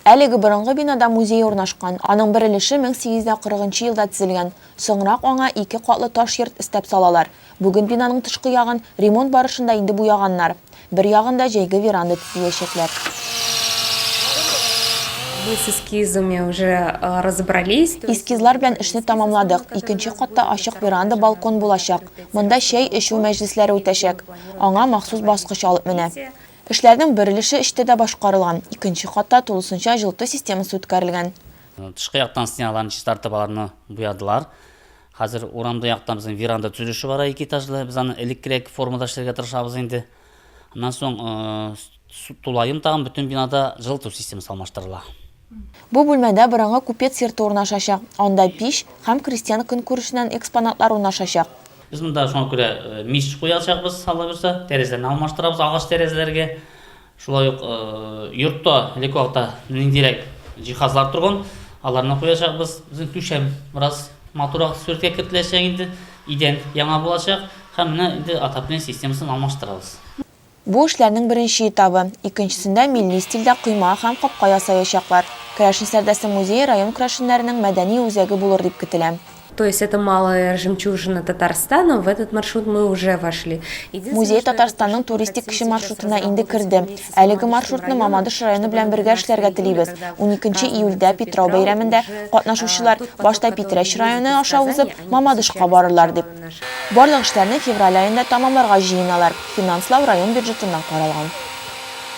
Әлеге борынгы бинада музей урнашкан, аның бер өлеше 1840 нчы елда төзелгән. Соңрак аңа ике катлы таш йорт өстәп салалар. Бүген бинаның тышкы ягын ремонт барышында инде буяганнар. Бер ягын да җәйге веранда төзиячәкләр. Мы с эскизами уже разобрались. Эскизлар белән эшне тәмамладык. Икенче катта ачык веранда балкон булачак. Монда чәй эчү мәҗлесләре үтәчәк. Аңа махсус баскыч алып менә. Эшләрнең бер өлеше эчтә дә башкарылган, икенче катта тулысынча җылыту системасы үткәрелгән. Тышкы яктан стеналарны чистартып, аларны буядылар. Хәзер урамда яктан безнең веранда төзелеше бара, ике этажлы. Без аны элеккерәк формада эшләргә тырышабыз инде. Аннан соң тулаем тагын бөтен бинада җылыту системасы алмаштырыла. Бу бүлмәдә борынгы купец йорты урнашачак, анда пич һәм крестьян көнкүрешеннән экспонатлар урнашачак. Без монда шуңа күрә мич куячакбыз, аллабирса, тәрәзәне алмаштырабыз агач тәрәзәләргә. Шулай ук йортта элекке вакытта ниндирәк җиһазлар торган, аларны куячакбыз. Безнең түшәм бераз матуррак сурәткә кертеләчәк инде, идән яңа булачак һәм менә инде отопление системасын алмаштырабыз. Бу эшләрнең беренче этабы. Икенчесендә милли стильдә койма һәм капка ясаячаклар. Керәшен Сәрдәсе музее район керәшеннәренең мәдәни үзәге булыр дип көтелә. То есть это малая жемчужина Татарстана, в этот маршрут мы уже вошли. Музей Татарстанның туристик кече маршрутына инде керде. Әлеге маршрутны Мамадыш районы белән бергә эшләргә телибез. Уникенче июльдә, Питрау бәйрәмендә, катнашучылар, башта Питрәч районы аша узып, Мамадышка барырлар, дип. Барлык эшләрне февраль аенда тәмамларга җыеналар, финанслау район бюджетыннан каралган.